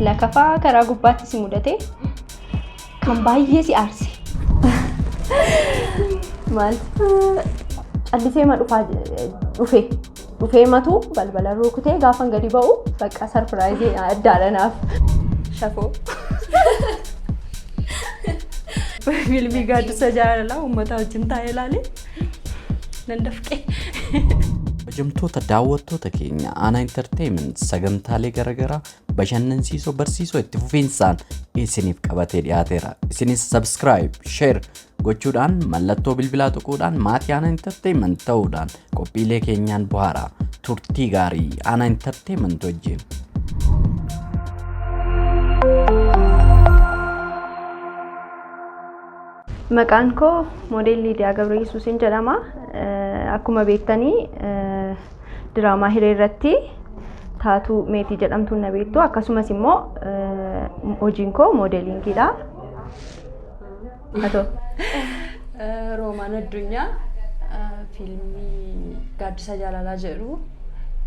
Lakafaa karaa gubbaatti si mudate kan baay'ee si aarse. Maal? Callisee ma dhufaa dhufe. Dhufee matu balbala rukutee gaafan gadi ba'u bakka sarpiraayizii addaadha naaf. Shafoo. Fiilmii gaaddisa jaalalaa uummataa wajjin taa'ee ilaalee. Nan dafqee. Hojjamtoota daawwattoota keenya aanaa intarteeyiment sagantaalee garaagaraa bashannansiisoo barsiisoo itti fufiinsaan isiniif qabatee dhiyaateera. Isinis subscribe, share gochuudhaan mallattoo bilbilaa tuquudhaan maatii aanaa intarteeyiment ta'uudhaan qophiilee keenyaan buhaara. Turtii gaarii aanaa intarteeyiment wajjin. Maqaan koo Moodel Liidiyaa Gabreyesuusin jedhama. Akkuma beektanii diraamaa hiree irratti taatuu meetii jedhamtuun na beektu. Akkasumas immoo hojiin koo moodelingiidha. Atoo. Roomaan Addunyaa fiilmii Gaaddisa Jaalalaa jedhu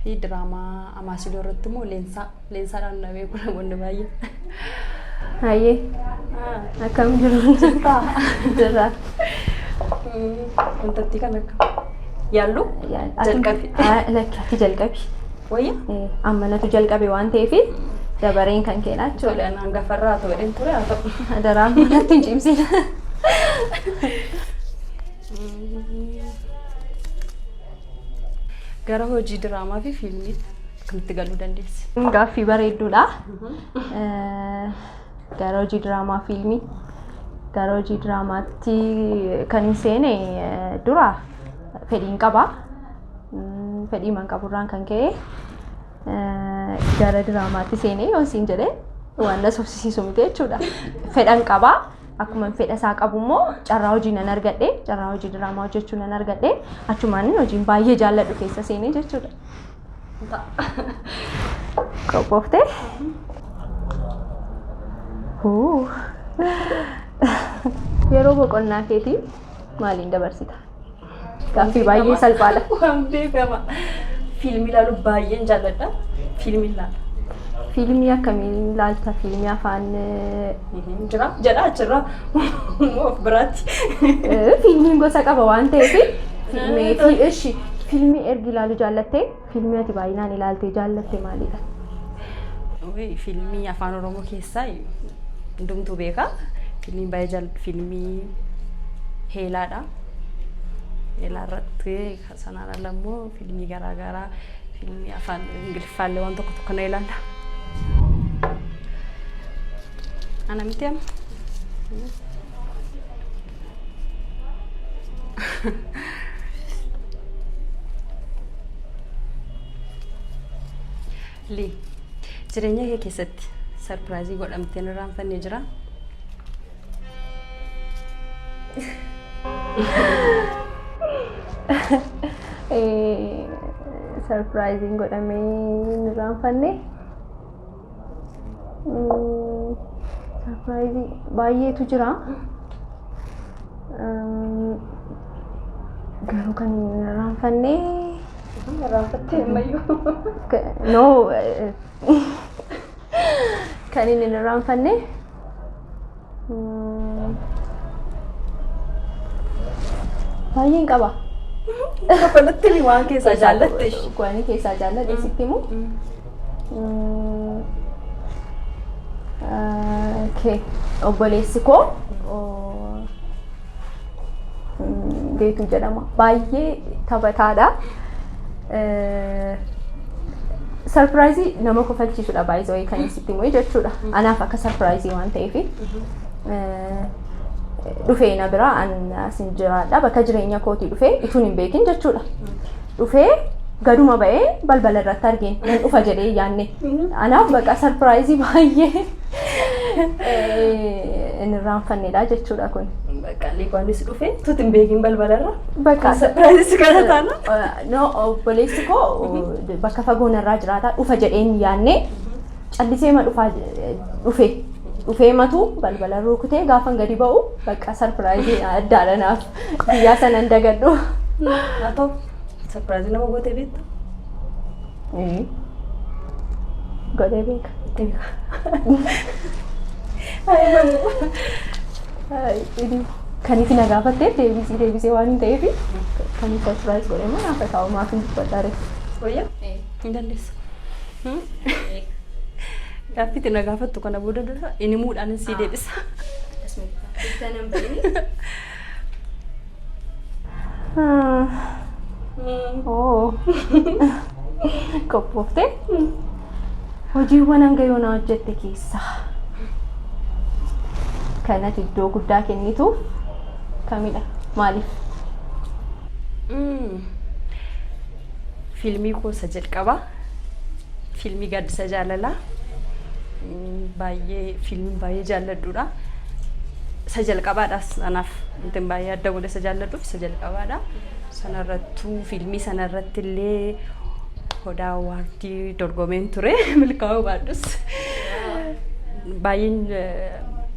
fi diraamaa Amaasiloo irratti immoo Leensaa Leensaadhaan na beeku namoonni baay'ee. Hayyee akkam jiru? Jirtaa? Jirra. Wantattii kan akka yaallu jalqabi. Lakki ati jalqabi. Wayya? Eh, Amma natu jalqabe waan ta'eef dabareen kan keenyaa jechuudha. Tole anaan gafarraa ta'u jedheen ture haa ta'u. Adaraa manatti hin cimsin. Gara hojii diraamaa fi fiilmiitti. Akkamitti galuu dandeessi? Gaaffii bareedduudha. Gara hojii diraamaa fiilmii. Gara hojii diraamaatti kan hin seene eh, dura fedhiin qaba. Mm, Fedhii man qaburraan kan ka'e eh, gara diraamaatti seenee yoon siin jedhe waan na sobsisiisu miti jechuudha. Fedhan qaba. Akkuma fedha isaa qabu immoo carraa hojii nan argadhe. Carraa hojii diraamaa hojjechuu nan argadhe. Achumaan hojiin baay'ee jaalladhu keessa seenee jechuudha. Qophooftee? Huu. Yeroo boqonnaa keetii maaliin dabarsita? Gaaffii baay'ee salphaadha. Waan beekama. Fiilmii ilaaluu baay'een jaalladha. Fiilmii ilaala. Fiilmii akkamiin ilaalta? Fiilmii afaan eh, Hin jira jedha achirraa immoo of biraatti. Eh, Fiilmiin gosa qaba waan ta'eef fiilmii Eh, fi ishi fiilmii ergi ilaaluu jaallattee fiilmii ati baay'inaan ilaaltee jaallatte maalidha? Ui, Fiilmii afaan oromoo keessaa hundumtuu beeka. Fiilmii baay'ee jaal fiilmii heelaadha. Heelaa irratti Sanaan ala immoo fiilmii garaa garaa fiilmii afaan Ingiliffaa illee waan tokko tokko na ilaala. Ana miti amma. Lii, jireenya kee keessatti sarpiraayizii godhamteen irraanfannee jiraa? Sarpiraayiziin godhamee hin irraanfanne. Sarpiraayizii baay'eetu jira. Garuu kan hin irraanfanne. Irraanfattee ammayyuu. No. Kan hin irraanfanne. Baay'een qaba. Kafalatti ni waan keessaa jaallatte. Kuwanii keessaa jaalladhe sitti immoo. Obboleessi koo Geetuu jedhama. Baay'ee taphataadha. Sarpiraayizii nama kofalchiisudha baay'ee kan sitti himee jechuudha. Anaaf akka sarpiraayizii waan ta'eef dhufee na bira an asin jiraadha bakka jireenya kootii dhufee ituun hin beekin jechuudha. dhufee gaduma ba'ee balbala irratti argeen nan dhufa jedhee hin yaanne. Anaaf baqa sarpiraayizii baay'ee eh, hin irraanfannedha jechuudha kun. Bakka Liibaanis dhufe tuti hin beekin balbalarra. Bakka Sapiraayizii kana taana. No, obboleessi koo bakka fagoo narraa jiraata dhufa jedhee hin yaanne callisee ma dhufaa je- dhufe dhufee matu balbala rukutee gaafan gadi ba'u bakka sarpiraayizii addaadha naaf. Guyyaa sana hin dagadhu. Haa ta'u sarpiraazii nama gootee beektu. Godhee beeka. Kaniif na gaafattee deebisii deebisee waan hin ta'eef kaniif sarpiraayiz godhee moo naafa taa'u maaf hin dubbadhaare. Wayyaa hin dandeessu. Gaaffii itti na gaafattu kana booda dura inni muudhaan sii deebisa. Oo. Qophooftee? Hojiiwwan hanga yoonaa hojjette keessaa kanatti iddoo guddaa kennituuf kamidha? Maaliif? Fiilmii koo isa jalqabaa Fiilmii gaaddisa jaalalaa baay'ee fiilmiin baay'ee jaalladhuudha. Isa jalqabaadhaas anaaf wantin baay'ee adda godhe isa jaalladhuuf isa jalqabaadha. Sanarrattuu fiilmii sanarratti illee hodaa waardii dorgomeen ture milkaa'uu baadhus. Baay'een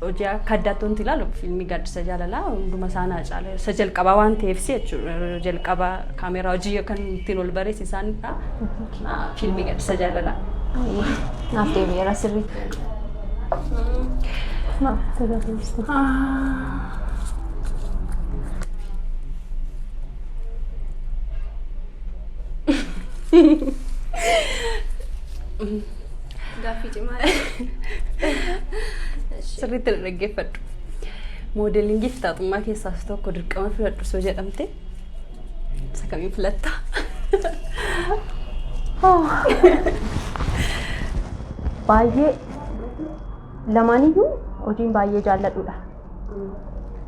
hojii akka addaatti wanti ilaalu fiilmii gaaddisa jaalalaa hunduma isaa naa caala. Isa jalqabaa waan ta'eef jechuudha jalqaba kaameeraa hojii kan ittiin ol bareessi isaan Fiilmii gaddisa jaalalaa. Naaf deebi'eera sirriitti. Gaaffii cimaa. Sirriitti na dhaggeeffadhu. Moodelingiif taatummaa keessaas tokko dirqama filadhu soo jedhamte Isa kamiin filatta? Baay'ee lamaaniyyuu hojiin baay'ee jaalladhudha.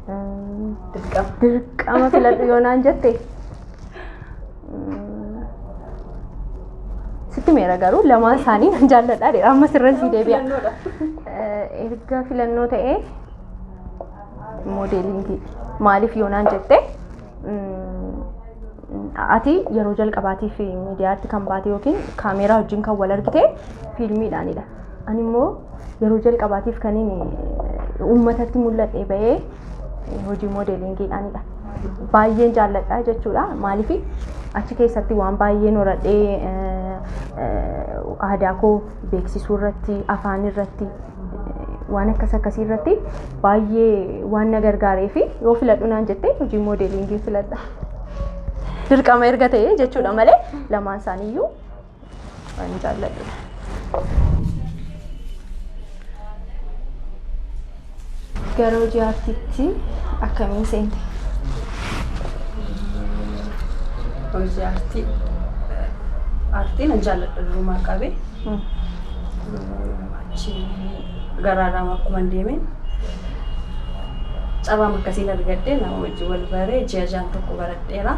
Mm, Dirqama. Dirqama filadhu yoo naan jette. mm, Sitti meera garuu lamaan isaanii nan jaalladha. Amma sirra sii deebi'a. Filannoodha. Eh, Erga filannoo ta'ee Moodeelingii maaliif yoonaan jette ati yeroo jalqabaatiif miidiyaatti kan baate yookiin kaameeraa wajjin kan wal argite fiilmiidhaanidha. Ani immoo yeroo jalqabaatiif kan inni uummatatti mul'adhe bahee hojii moodeelingiidhaanidha. Baay'een jaalladha jechuudha. Maaliif achi keessatti waan baay'ee horadhee aadaa koo beeksisuu irratti, afaan irratti, waan akkas akkasii irratti baay'ee waan na gargaaree fi yoo filadhu naan jettee hojii moodeeliingii filadha. Dirqama erga ta'ee jechuudha malee lamaan isaaniiyyuu waan jaalladhudha. Gara hojii aartiitti akkamiin seente? Hojii aartii aartii nan jaalladha durumaa qabee. Achii garaadhaan akkuman deemeen carraama akkasiin argadhe nama wajjin wal baree ji'a jaan tokko baradheera.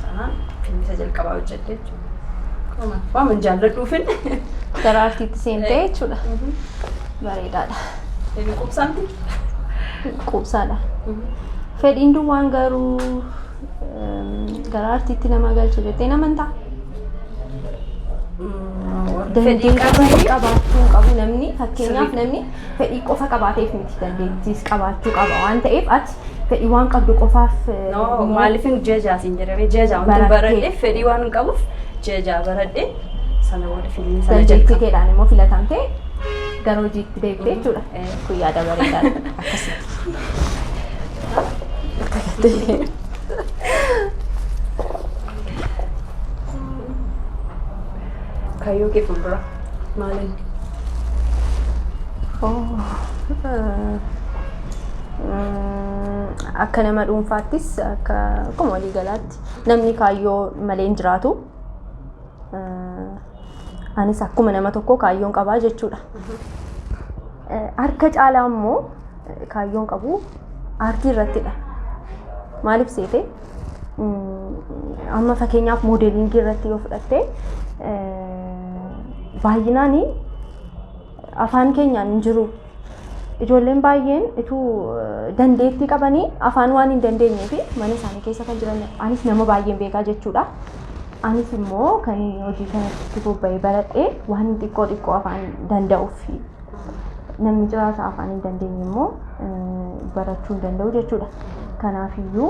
Sanaan fiilmisa jalqabaa hojjedhe jechuudha. Akkuma waaman jaalladhuufin. Gara artiitti seentee jechuudha. Bareedaadha. Inni qubsaamti. Quubsaadha. Fedhiin duwwaan garuu Gara artiitti nama galcha jettee nama hin ta'a. Fedhii Dandeettii qabanii qabaachuu hin qabu namni fakkeenyaaf namni fedhii qofa qabaateef miti dandeettiis qabaachuu qaba waan ta'eef ati fedhii waan qabdu qofaaf eh, No, immoo maaliifin ji'a ja'a siin jedhamee ji'a ja'a wanti Barattee. baradhe fedhii waan hin qabuuf ji'a ja'a baradhe sana booda fiilmii sana dandeettii jalqaba. keedhaan immoo filatamtee gara hojiitti deebite jechuudha. Eh. Kun yaada bareedaadha. Akkasitti. Kaayyoo kee fuuldura maaliin? Akka nama dhuunfaattis akka akkuma walii galaatti namni kaayyoo malee hin jiraatu. Anis akkuma nama tokkoo kaayyoon qabaa jechuudha. Harka caalaa immoo Kaayyoon qabu aartii irrattidha. Maaliif seete amma fakkeenyaaf moodeeliingii irratti yoo fudhatte baay'inaan afaan keenyaan hin jiru. Ijoolleen baay'een utuu dandeettii qabanii afaan waan hin dandeenyee fi mana isaanii keessa kan jiran anis nama baay'een beekaa jechuudha. Anis immoo kan hojii kanatti bobba'ee baradhee waan xiqqoo xiqqoo afaan danda'uuf Namni ciraasa afaan hin dandeenye immoo barachuu hin danda'u jechuudha. Kanaafiyyuu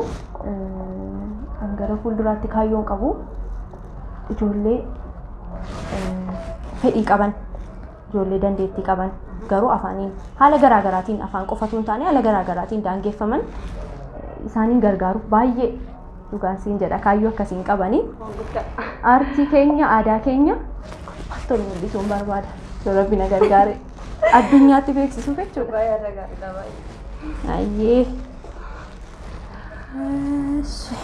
kan gara fuulduraatti kaayyoon qabu ijoollee fedhii qaban, ijoollee dandeettii qaban garuu afaaniin haala garaa garaatiin afaan qofa osoo hin taane haala garaa garaatiin daangeffaman isaaniin gargaaruuf baay'ee Dhugaan siin jedha kaayyoo akkasii hin qabani. Aartii keenya aadaa keenya maaltu nu mul'isuun barbaada. Yoo rabbi na gargaare addunyaatti beeksisuu jechuudha. Ayyee. Eshi.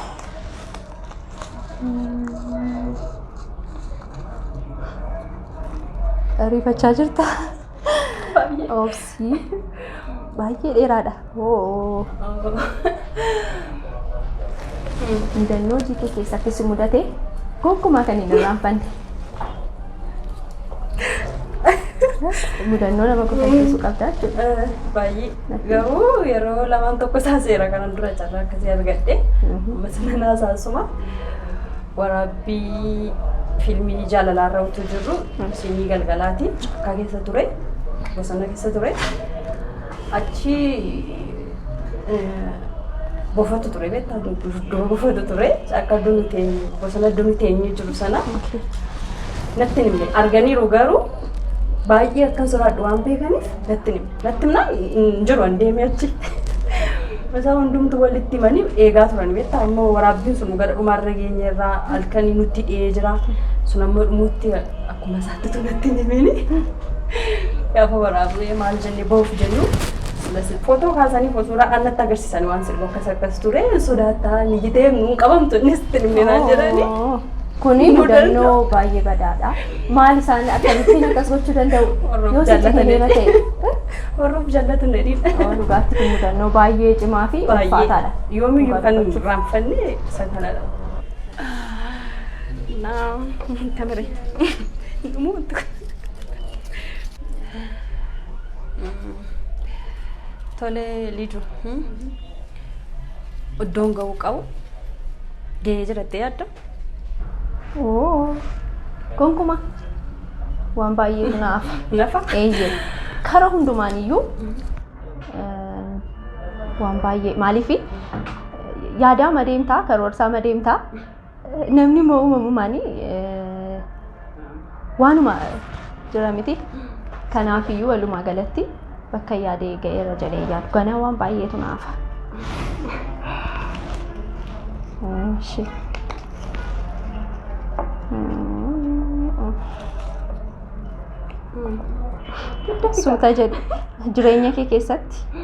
Riifachaa jirta? Obsi. Si baay'ee dheeraadha. Hoo. Mudannoo hojii kee keessatti si mudate gonkumaa kan hin irraanfanne. Mudannoo nama kofalchiisu qabda jechuudha. Baay'ee. Garuu yeroo lamaan tokko isaa seera kanan dura carraa akkasii argadhe. Ammas nan haasaasuma. Waraabbii fiilmii jaalalaarra utuu jirru siinii galgalaati akka keessa ture bosona keessa ture achi bofatu ture beektaa dudduuba bofatu ture akka duni teenyu bosona duni teenyu jiru sana natti himne arganiiru garuu baay'ee akkan sodaadhu waan beekaniif natti himne. Natti himnaan hin jiru an deemee achi. Isaa hundumtu walitti himanii eegaa turan beektaa ammoo waraabbiin sun gara dhumaarra geenye irraa halkanii nutti dhi'ee jira. Sun ammoo dhumuutti akkuma isaatti tunatti hin himiini. Gaafa waraabnee maal jennee bahuuf jennu footoo kaasanii suuraa annatti agarsiisan waan sirba akkas akkas ture sodaattaa miyyitee nuun qabamtu innis tilminaan jedhanii. Kuni mudannoo baay'ee badaadha. Maal isaan akkamittiin akkas gochuu danda'u? Warroota Yoo sitti jaallatanii. himee ta'e. Warroota jaallatu na dhiiba. Yoo dhugaatti kun mudannoo baay'ee cimaa fi ulfaataadha. Yoomiyyuu kan hin raanfanne isa kanadha. Naam, tamire. Dhumuu wanti kun. Tole Lidu. iddoon ga'uu qabu ga'ee jira jettee yaadda? Oo, gonkumaa waan baay'eetu naaf. Nafa? Eeyyee. Kara hundumaan iyyuu eh, waan baay'ee maaliif yaadaa madeemtaa karoorsaa madeemtaa Namni immoo uumamumaan waanuma jira miti. Kanaafiyyuu walumaa galatti bakka yaadee ga'eera jedhee yaadu. Ganaa waan baay'eetu naafa. Ishee. Suuta jedhu jireenya kee keessatti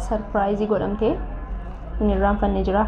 sarpiraayizii godhamtee hin irraanfanne jiraa?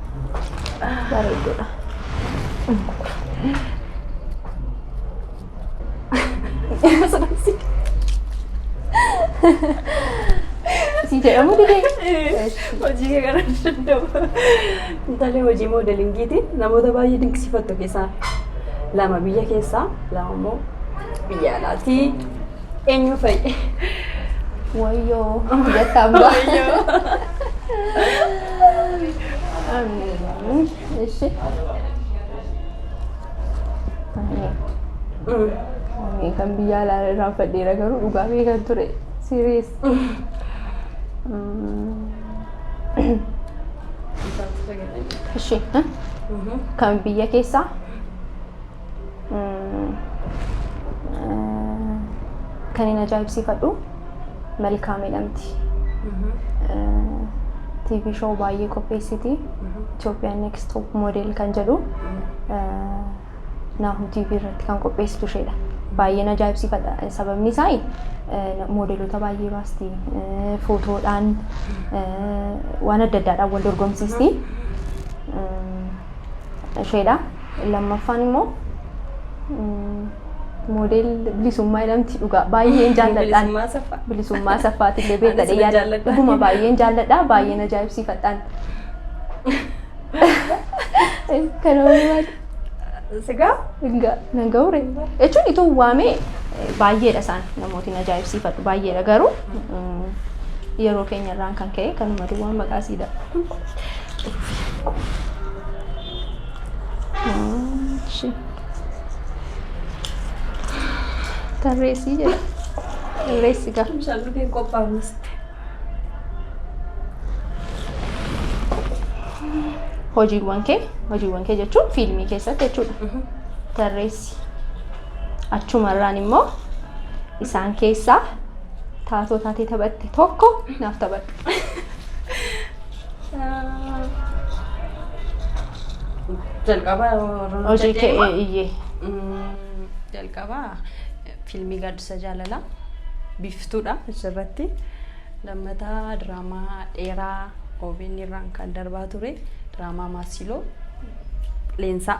Bareeddudha. Si jedhamu didee. Hojii kee kana danda'u. Intalli hojii moodelingiiti. Namoota baay'ee dinqisiifattu keessaa lama biyya keessaa lama immoo biyya alaati. Eenyu fa'i? Wayyoo jettaan ba'a. Ishi. Ani kan biyya alaa irraa fadheera garuu dhugaa beekan ture. Siriis. Ishi. Kan biyya keessaa Kan hin ajaa'ibsiifadhu Malkaam jedhamti. TV show baay'ee qopheessiti. Itoophiyaan Next Top Model kan jedhu Naahu TV irratti kan qopheessitu isheedha. Baay'een ajaa'ibsiifadha. Sababni isaa moodeloota baay'ee baasti. Footoodhaan waan adda addaadhaan wal dorgomsiisti. Isheedha. Lammaffaan immoo moodeel bilisummaa jedhamti dhugaa baay'een jaalladhaan. Bilisummaa saffaa. Bilisummaa saffaati illee beekta Anis nan dheeyyaadha. jaalladha. Dhuguma baay'een jaalladha baay'een ajaa'ibsiifadhaan. Kana waliin maal? Sigaa? Egaa nan ga'uure. Jechuun ituu waamee eh, baay'eedha isaan namootiin ajaa'ibsiifadhu baay'eedha garuu mm, yeroo keenya irraan kan ka'e kanuma duwwaa maqaa siidha. Ishee. Tarreessii jedha. Tarreessi gaa. Tumsaan dhufee qophaa'uus. Hojiiwwan kee hojiiwwan kee jechuun fiilmii keessatti jechuudha. Tarreessi. Achumarraan immoo isaan keessaa taatoo taatee taphatte tokko naaf taphadhu. Jalqaba Hojii kee iyyee. Jalqaba fiilmii gaaddisa jaalalaa biiftuudha asirratti. Lammataa diraamaa dheeraa OBN irraan kan darbaa ture diraamaa Maasiloo Leensaa.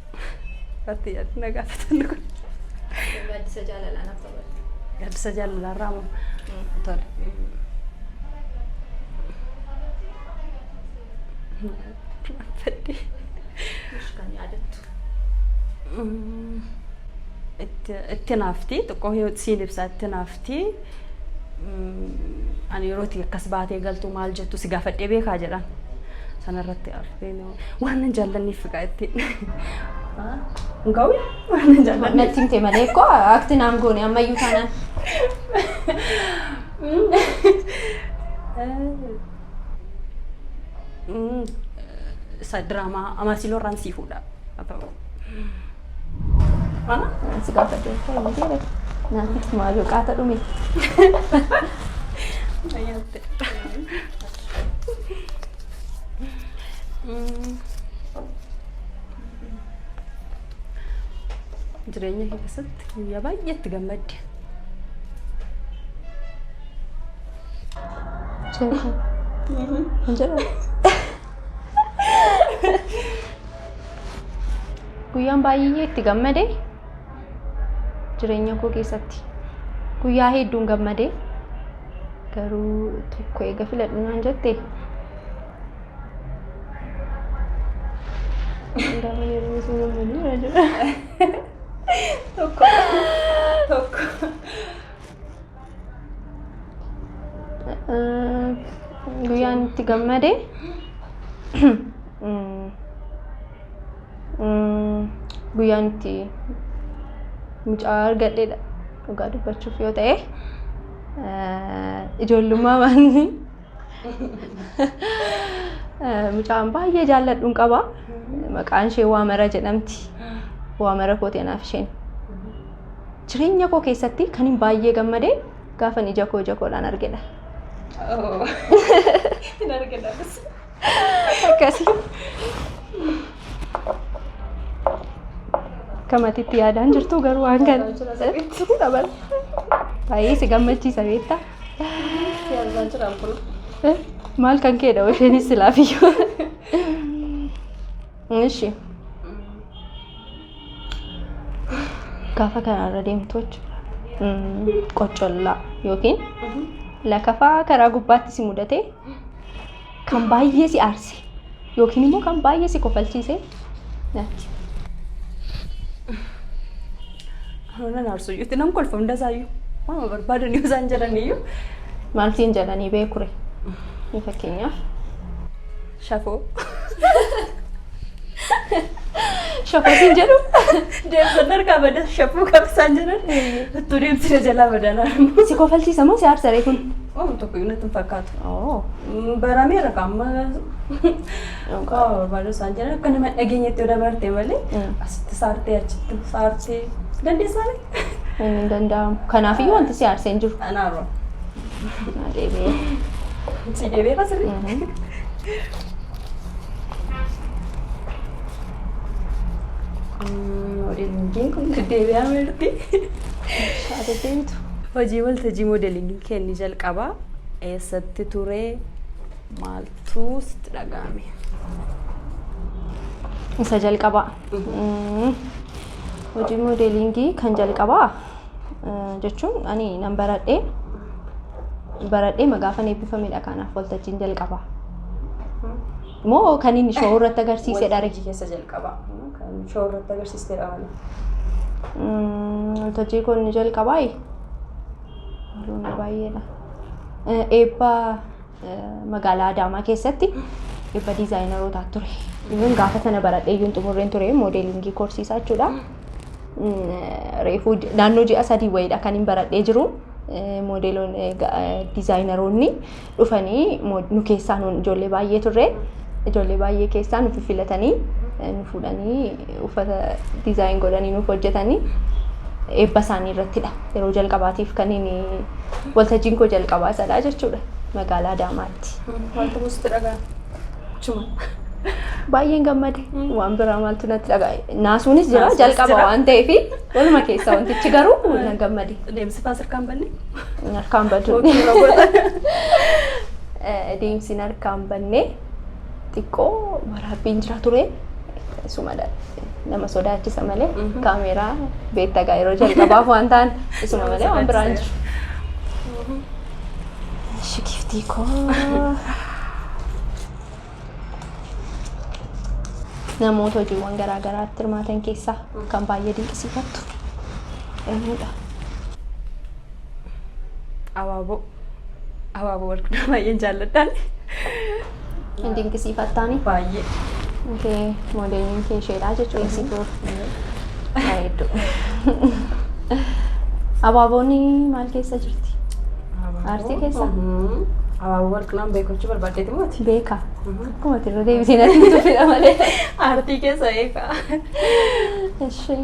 Irratti yaadni na gaafatan kun. Gaaddisa jaalalaa naaf taphadhu. Gaaddisa jaalalaa irraa moo? Tole. Fedhi. Ish kan yaadattu. Itti itti naafti xiqqoo yoo siin ibsaa itti naafti. Ani yeroo itti akkas baatee galtu maal jettu si gaafadhee beekaa jedhan. Sanarratti arfeen Waanan jaallanneef egaa ittiin. Gawi waanan jaallanneef. Natti himte malee koo akti naan goone ammayyuu taanaan. Isa diraamaa Amaasiloorraan sii fuudha. Haa ta'u. Ansi gaafa deemtee hin deeme. Naannitti maaloo qaata dhume. Jireenya kee keessatti guyyaa baay'ee itti gammadde. Hin jedhamu. Guyyaan baay'ee itti gammade jireenya koo keessatti guyyaa hedduun gammade garuu tokko eega filadhu naan jette Gaafa yeroo sun gammadu irra jira. Tokko. Tokko. Guyyaan itti gammade guyyaan itti mucaa argadheedha dhugaa dubbachuuf yoo ta'e ijoollummaa maanii mucaan baay'ee jaalladhuun qaba maqaan ishee waamara jedhamti waamara kooti anaaf isheen. Jireenya koo keessatti kan hin baay'ee gammade gaafan ija koo ija koodhaan argedha. Hin argina. Akkasi. Kamatitti yaadaan jirtu garuu waan kan baay'ee si gammachiisa beekta. Yaadaa jiraan kun. Maal kan keedha isheenis silaafiyyuu. Ishi. Gaafa karaarra deemtu jechuudha. Qoccollaa yookiin lakafaa karaa gubbaatti si mudatee kan baay'ee si aarse yookiin immoo kan baay'ee si kofalchiise natti. Hoonan aarsu iyyuu itti nan kolfa hunda isaayyuu. Waama barbaadan yoo isaan jedhan iyyuu. Maal siin jedhanii beekure? Fakkeenyaaf. Shafoo. Shafoo siin jedhu. Deemsan harkaa bada shafuu qabsaan jedhan. Ittuu deemsina jalaa badalaa. Si kofalchiisa moo si aarsa reefun? Waan tokko iyyuu natti hin fakkaatu. Oo. Barameera kan amma waa barbaadu isaan jedhan akka nama dhageenyetti yoo dabarte malee Mm. asitti saartee achitti saartee dandeessaanii. Inni hin danda'amu. Kanaafiyyuu wanti si aarse hin jiru. Anaaroo. Si deebi'ee basirri. Modeelingiin kun deebi'aa mirti. Shaate deemtu. Hojii waltajjii modeelingii kenni jalqabaa eessatti ture maaltu sitti dhaga'ame? Isa jalqabaa. Hojii modeelingii kan jalqabaa jechuun ani nan baradhee baradhee magaafan eebbifamedha kanaaf waltajjiin jalqabaa. Moo kan inni showuu irratti agarsiise dha Waltajjii keessa jalqabaa. Kan shoo irratti agarsiiste dhaabani. Waltajjii kun ni jalqabaa Haluuna baay'eedha. Eh, Eebba eh, magaalaa Adaamaa keessatti eebba diizaayinaroota ture. Even gaafa sana baradhee iyyuu hin xumurreen ture moodeelingii korsiisaa jechuudha. reefuu naannoo ji'a sadii wayiidha kan hin baradhee jiru. Moodeeloon diizaayinaroonni dhufanii nu keessaa nuun ijoollee baay'ee turre. Ijoollee baay'ee keessaa nu filatanii nu fuudhanii uffata diizaayin godhanii nuuf hojjetanii eebba isaanii irrattidha. Yeroo jalqabaatiif kan inni waltajjiin koo jalqabaa sadhaa jechuudha magaalaa Adaamaatti. Maaltu sitti dhaga'ame? Achuma. Baay'een gammade. Waan biraa maaltu natti dhaga'e. Naasuunis jira Naasuunis jalqaba jira. waan ta'eef waluma keessa wantichi garuu nan gammade. Deemsifaa sirkaan banne. Harkaan baduu. Hojii irra godha. Eh, Deemsiin harkaan bannee xiqqoo waraabbiin jira ture. Isumadha. Nama sodaachisa malee Mhm. kaameeraa beektaa yeroo jalqabaaf waan ta'an isuma malee waan biraan jiru. Eshi giftii koo. Namoota hojiiwwan garaa garaatti hirmaatan keessaa kan baay'ee dinqisiifattu eenyudha? Abaaboo. Abaaboo wal qunaa baay'een jaalladhaan. hin dinqisiifattaani. Baay'ee. Kee moodeeliin kee isheedha jechuudha si ture. Bareedduu. Abaaboonni maal keessa jirti? Aartii keessa? Abaaboo warqinaan beekachuu barbaaddeeti mooti. Beeka. Akkuma ati irra deebisee natti hin tufidha malee. Aartii keessa beekaa. Ishee.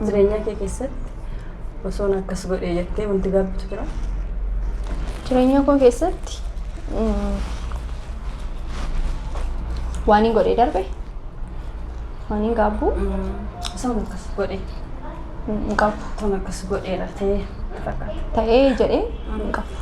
Jireenyaa kee keessatti osoon akkas godhe jettee wanti gaabbitu jira. Jireenya koo keessatti mm, waan hin godhee darbe waan hin gaabbu Osoon akkas godhe hin qabu. osoon akkas godheera ta'ee fakkaata. Ta'ee jedhee hin qabu.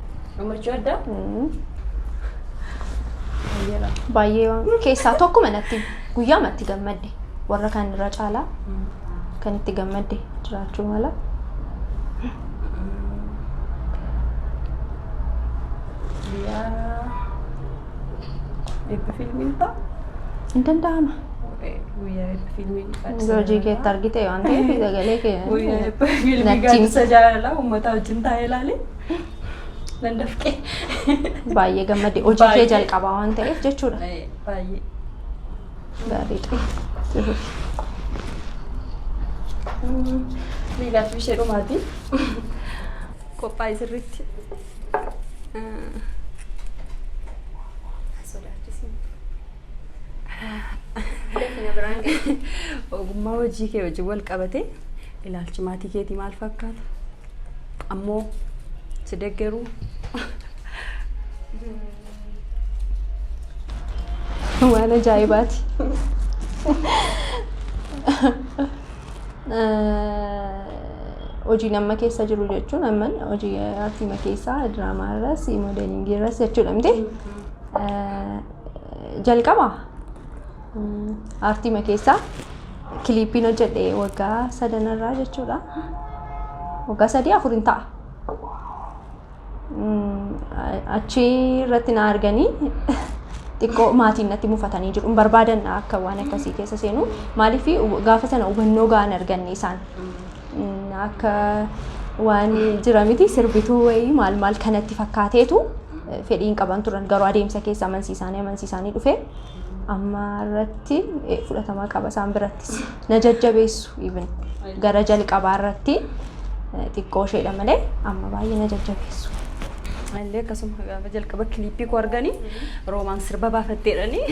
Amarchuu addaa? Baay'ee waan keessaa tokkuma natti guyyaa matti gammadde warra kan irra caalaa kan itti gammadde jiraachuu mala. Guyyaa eebbi fiilmiin fa'a? Hin danda'ama. Guyyaa eebbi fiilmiin Yoo hojii keetti argite waan ta'eef sagalee kee Guyyaa eebbi fiilmii Nattiin. gaaddisa jaalalaa uummataa wajjin taa'ee ilaalee. Nan dafqe. Baay'ee gammade. Hojii kee Baay'ee. jalqabaa waan ta'eef jechuudha. Eh, Baay'ee. Gaariidha. Liilaatu ishee dhumaati. Qophaa'e sirriitti. Ogummaa hojii kee wajjin wal qabate ilaalchi maatii keetii maal fakkaata? ammoo si deggeruu. Waan ajaa'ibaati. Hojiin amma keessa jiru jechuun amma hojii artiima keessaa diraamaa irras moodeelingii irras jechuudha miti. Jalqaba artiima keessaa Kiliippiin hojjedhe waggaa sadanarraa jechuudha. Waggaa sadii afuriin ta'a. Achi irratti na arganii xiqqoo maatiin natti mufatanii jiru. Hin barbaadan akka waan akkasii keessa seenu. Maaliif gaafa sana hubannoo ga'an arganne isaan. Akka waan jira miti sirbituu wayii maal maal kanatti fakkaateetu fedhii hin qaban turan garuu adeemsa keessa amansiisaanii amansiisaanii dhufe. amma irratti eh, fudhatama qaba isaan birattis na jajjabeessu even gara jalqabaa irratti eh, xiqqoo isheedha malee amma baay'ee na jajjabeessu. Illee akkasuma gaafa jalqaba kiliippii koo arganii roomaan sirba baafatteedhanii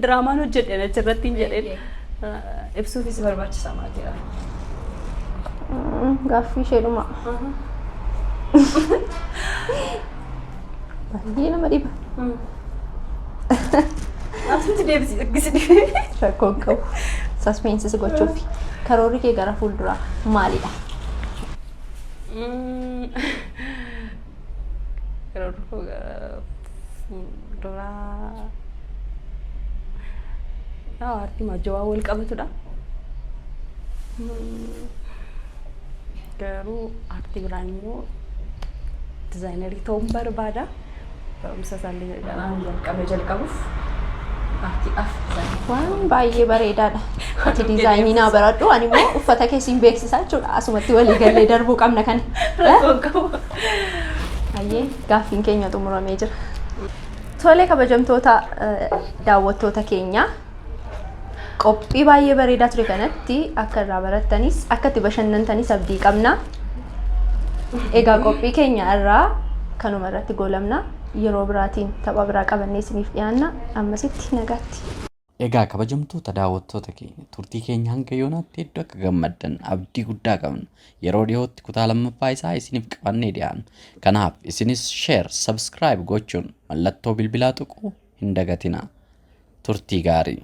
diraamaan hojjedhan achirratti hin jedheen Eh, ibsuufis barbaachisaa maal jedha. Mm, Gaaffii isheedhuma. Baay'ee nama dhiba. Asitti deebisi argisitti. Rakkoo hin qabu. Saspeensis gochuuf. Karoorri kee gara fuulduraa maalidha? Karoorri koo gara fuulduraa. Aartii maajjawaa wal qabatudha. Garuu aartii biraa immoo dizaayinerii ta'uun barbaada. Barumsa isaallee kanaan jalqabe jalqabuuf aartiidhaaf dizaayinerii. Waan baay'ee bareedaadha. Ati diizaayinii naa baradhu ani immoo uffata kee siin beeksisaa jechuudha. Asumatti walii gallee darbuu qabna kana. Rakkoon qabu. Hayyee gaaffiin keenya xumuramee jira. Tole kabajamtoota eh, daawwattoota keenya Qophii baay'ee bareedaa ture kanatti akka irraa barattanis akka itti bashannantanis abdii qabna. Egaa qophii keenya irraa kanuma irratti goolabna. Yeroo biraatiin tapha biraa qabannee isiniif dhiyaanna. Ammasitti nagaatti. Egaa kabajamtoota daawwattoota keenya turtii keenya hanga yoonaatti hedduu akka gammaddan abdii guddaa qabna. Yeroo dhiyootti kutaa lammaffaa isaa isiniif qabannee dhiyaanna. Kanaaf isinis share, subscribe gochuun mallattoo bilbilaa tuquu hin dagatinaa. Turtii gaarii.